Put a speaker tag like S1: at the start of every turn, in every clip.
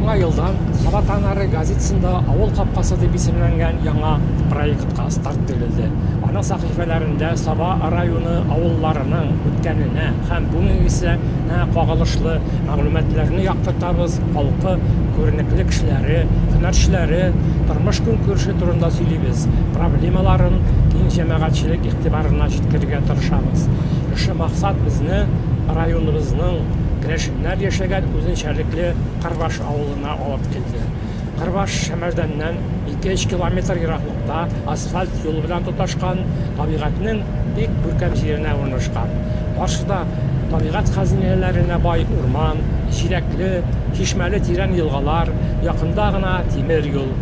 S1: Яңа елдан Саба Танары газетасында Авыл капкасы дип исемләнгән яңа проектка старт бирелде. Аның сәхифәләрендә Саба районы авылларының үткәненә һәм бүгенгесенә кагылышлы мәгълүматларны яктыртабыз, халкы, күренекле кешеләре, һөнәрчеләре, тормыш-көнкүреше турында сөйлибез, проблемаларын киң җәмәгатьчелек игътибарына җиткерергә тырышабыз. Шушы максат безне районыбызның керәшен Нәр яшәгән үзенчәлекле Кырбаш авылына алып килде. Кырбаш Шәмәрдәннән ике-өч километр ераклыкта асфальт юл белән тоташкан табигатьнең бик күркәм җиренә урнашкан. Каршыда табигать хәзинәләренә бай урман, җиләкле, чишмәле тирән елгалар, якында гына тимер юл.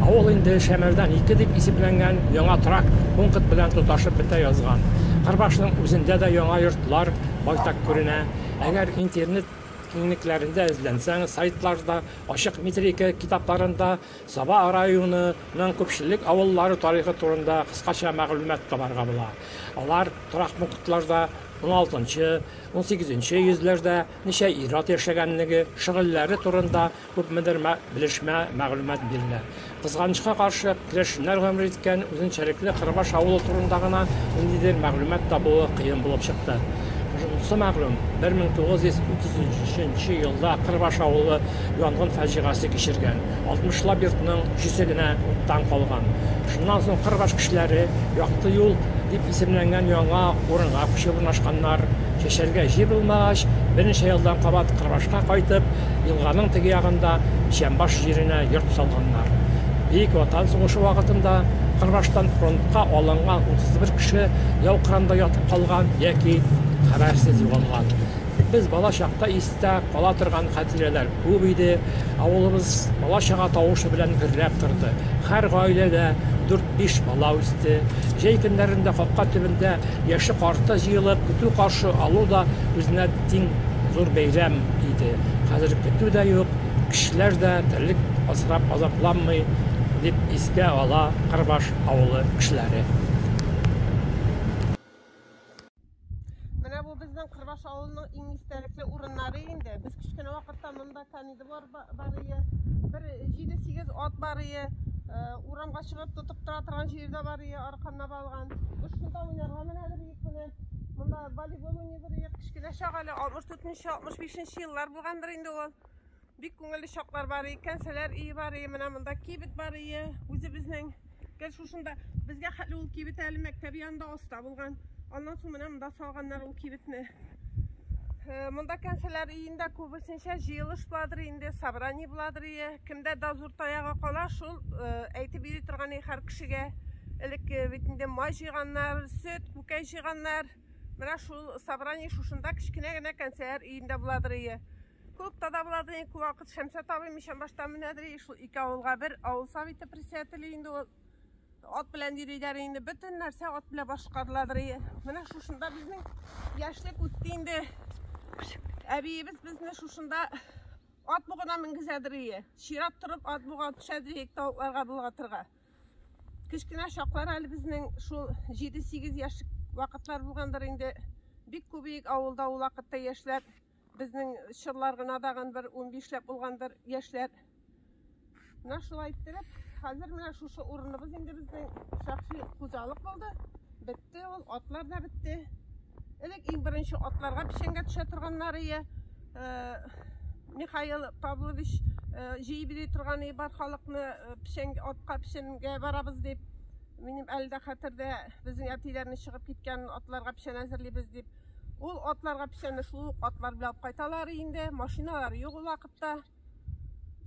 S1: Авыл инде Шәмәрдән ике дип исемләнгән яңа торак пункт белән тоташып бетә язган. Кырбашның үзендә дә яңа йортлар байтак күренә. Әгәр интернет киңлекләрендә эзләнсәң, сайтларда, ачык метрика китапларында Саба районы ның күпчелек авыллары тарихы турында кыскача мәгълүмат табарга була. Алар торак пунктларда уналтынчы, унсигезенче йөзләрдә ничә ир-ат яшәгәнлеге, шөгыльләре турында Күпмедер белешмә, мәгълүмат бирелә. Кызганычка каршы, керәшеннәр гомер иткән үзенчәлекле Кырбаш авылы турында гына ниндидер мәгълүмат табуы кыен булып чыкты. Шунысы мәгълүм, 1933 нче елда Кырбаш авылы янгын фаҗигасе кичергән, алтмышлап йортның өчесе генә уттан калган. Шуннан соң Кырбаш кешеләре Якты юл, дип исемләнгән яңа урынга күчеп урнашканнар. Чәчәргә җир булмагач, берничә елдан кабат Кырбашка кайтып, елганың теге ягында Чәмбаш җиренә йорт салганнар. Бөек Ватан сугышы вакытында Кырбаштан фронтка алынган 31 кеше яу кырында ятып калган яки хәбәрсез югалган. Без бала чакта истә кала торган хатирәләр. Күп иде. Авылыбыз бала-чага тавышы белән гөрләп торды. Һәр гаиләдә дүрт-биш бала үсте. Җәй көннәрендә капка төбендә яше-карты җыелып, көтү каршы алу да үзенә тиң зур бәйрәм иде. Хәзер көтү дә юк, кешеләр дә терлек асрап азапланмый, дип искә ала Кырбаш авылы кешеләре.
S2: Менә бу безнең Кырбаш авылының иң истәлекле урыннары инде. Без кечкенә вакытта монда кәниде бар бар ие. Бер 7-8 ат бар ие. Урамга чыгып тотып тора торган җирдә бар ие, арканна балган. Без шунда уйнарга менә бер ик менә. Монда волейбол уйный бер ие. Кечкенә чак әле 64 нче 65 нче еллар булгандыр инде ул. Бик күңелле чаклар бар икән, сәләр ие бар ие, менә монда кибет бар ие. Үзебезнең гел шушында безгә хәтле ул кибет әле мәктәп янында аста булган. Аннан соң менә монда салганнар ул кибетне. Э, монда кәнсәләр иендә күбесенчә җыелыш буладыр инде, собрание буладыр ие. Кемдә дозор таягы кала, шул э, әйтеп йөри торган ие һәр кешегә. Элек э, бит инде май җыйганнар, сөт, күкәй җыйганнар. Менә шул собрание шушында кечкенә генә кәнсәләр иендә буладыр ие. Күп тадавлады, күп вакыт Шәмсә табый мичән башта менәдер, шул ике авылга бер авыл советы председателе инде ул ат белән йөриләр инде, бөтен нәрсә ат белән башкарыладыр. Менә шушында безнең яшьлек үтте инде. Әбиебез безне шушында ат бугына менгезәдер ие. Чират торып ат буга төшәдер ие тавыкларга болгатырга. Кечкенә чаклар әле безнең шул 7-8 яшьлек вакытлар булгандыр инде. Бик күбек авылда ул вакытта яшьләр Безнең чырлар гына дагын бер унбишләп булгандыр яшьләр. Менә шулай иттереп, хәзер менә шушы урыныбыз инде безнең шәхси хуҗалык булды. Бетте ул, атлар да бетте. Элек иң беренче атларга печәнгә төшә торганнар ие. Михаил Павлович җыеп бери торган ие бар халыкны печәнгә, атка печәнгә барабыз дип. Минем әле дә хәтердә, безнең әтиләрне чыгып киткән атларга печән әзерлибез дип. Ул атларга печәнне шул ук атлар белән алып кайталар инде. Машиналар юк ул вакытта.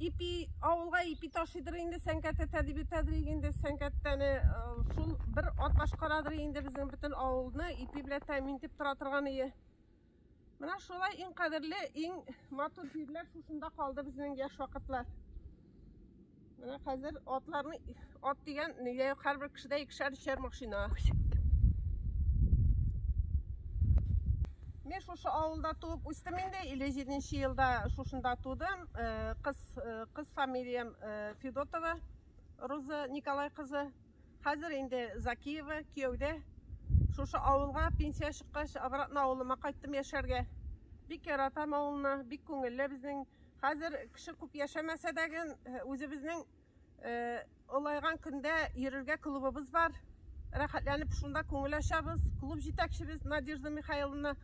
S2: Ипи авылга ипи ташыйдыр инде Сәнкәт әтә дип йөртәдер инде Сәнкәттәне. Шул бер ат башкарадыр инде безнең бөтен авылны ипи белән тәэмин итеп тора торган ие. Менә шулай иң кадерле, иң матур җирләр шушында калды безнең яшь вакытлар. Менә хәзер атларны ат дигән нигә һәрбер кешедә икешәр өчәр машина. Мен шушы авылда туып үстем инде, 57 елда шушында тудым. Э, кыз э, кыз фамилиям э, Федотова Роза Николай кызы. Хәзер инде Закиева кияүдә. Шушы авылга пенсия чыккач, обратно авылыма кайттым яшәргә. Бик яратам авылны, бик күңелле безнең Хәзер кеше күп яшәмәсә дә гын, үзебезнең олайган көндә йөрергә клубыбыз бар. Рәхәтләнеп шунда күңел ачабыз. Клуб җитәкчебез Надежда Михайловна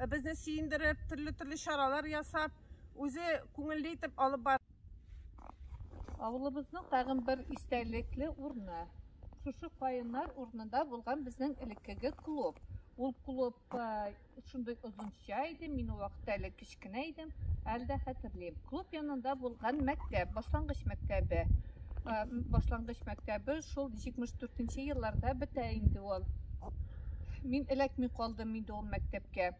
S2: безне сөендереп, төрле-төрле чаралар ясап, үзе күңелле итеп алып бар. Авылыбызның
S3: тагын бер истәлекле урыны, шушы каеннар урынында булган безнең элеккеге клуб. Ул клуб Шундый озынча иде, мин ул вакытта әле кечкенә идем, әле дә хәтерлим. Клуб янында булган мәктәп, башлангыч мәктәбе. Э, башлангыч мәктәбе шул 74 нче елларда бетә инде ул. Мин эләкми калдым инде ул мәктәпкә.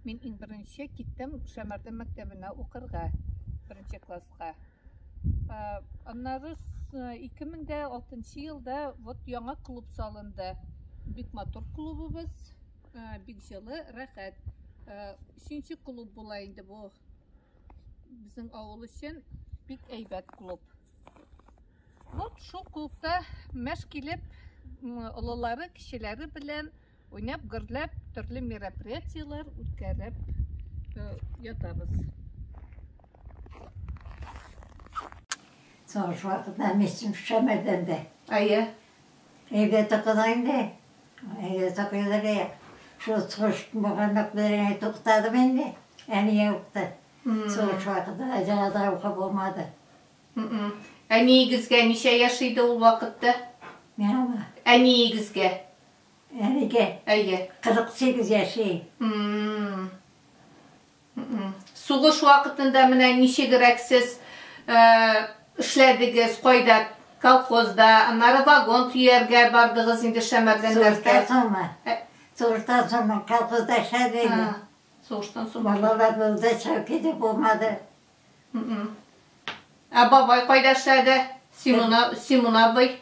S3: Мин иң беренче киттем Шәмәрдән мәктәбенә укырга, беренче класска. Аннары 2006 елда вот яңа клуб салынды. Бик матур клубыбыз, бик җылы, рәхәт. Өченче клуб була инде бу безнең авыл өчен бик әйбәт клуб. Вот шул клубта мәш килеп, олылары, кешеләре белән Уйнап, гөрләп, төрле мероприятиеләр үткәреп э, ятабыз.
S4: Соңгы вакытта мисем шәмәрдән дә. Әйе.
S3: Әйдә
S4: токыда инде. Әйдә токыда да. Шул сугыш булганлык белән туктадым инде. Әни юкты. Сугыш вакытта җанада ука булмады.
S3: Әниегезгә ничә яшь иде ул вакытта? Миңа.
S4: Әниегезгә.
S3: Әлегә.
S4: Әйе. 48
S3: яши. Сугыш вакытында менә ничегрәк сез эшләдегез, кайда? Колхозда, аннары вагон төяргә бардыгыз инде Шәмәрдәннәргә. Сугыштан соңмы?
S4: Сугыштан соңмы? Колхозда эшләдем. Сугыштан
S3: соң. Балалар булды,
S4: чәүкиде булмады.
S3: Ә бабай кайда эшләде? Симон абый?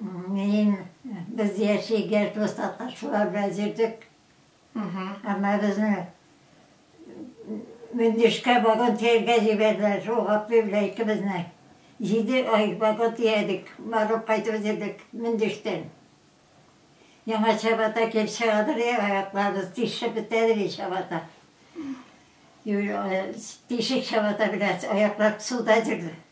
S4: Мин, без яшигәч, без татарчылар белән йөрдек. Әмма безне Мөндишкә вагон тияргә җибәрделәр. Шул Гапли белән икебезне. Җиде ай вагон тиядек, барып кайтып йөрдек Мөндиштән. Яңа чабата килеп чыгадыр, аякларыбыз тишеп бетәдер и чабата. Тишек чабата белән аяклар суда йөрде.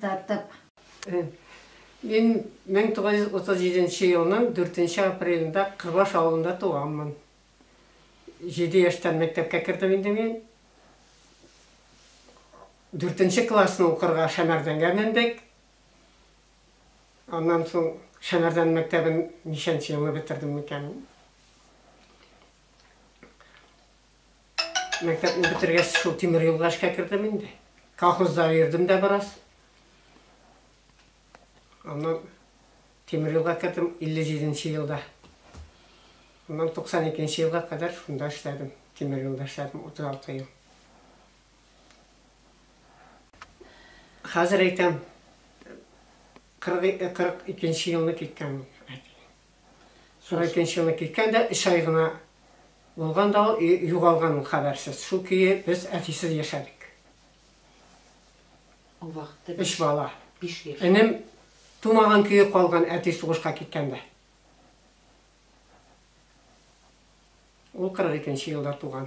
S4: тартып.
S5: Мин 1937 елның 4 апрелендә Кырбаш авылында туганмын. Җиде яшьтән мәктәпкә кердем инде мин. Дүртенче классны укырга Шәмәрдәнгә мендек. Аннан соң Шәмәрдән мәктәбен ничәнче елны бетердем микән? Мәктәпне бетергәч, шул тимер юлга эшкә кердем инде. Колхозда йөрдем дә бераз. Аннан тимер юлга кердем 57 елда. Аннан 92 елга кадәр шунда эшләдем. Тимер юлда эшләдем 36 ел. Хәзер әйтәм, 42 елны киткән. 42 елны киткән дә, 3 ай гына Булган да ул, югалган ул хәбәрсез. Шул көе без әтисез яшәдек.
S6: Ул вакытта өч бала. Биш
S5: яшь. Энем тумаган көе калган әти сугышка киткәндә. Ул 42 нче елда туган.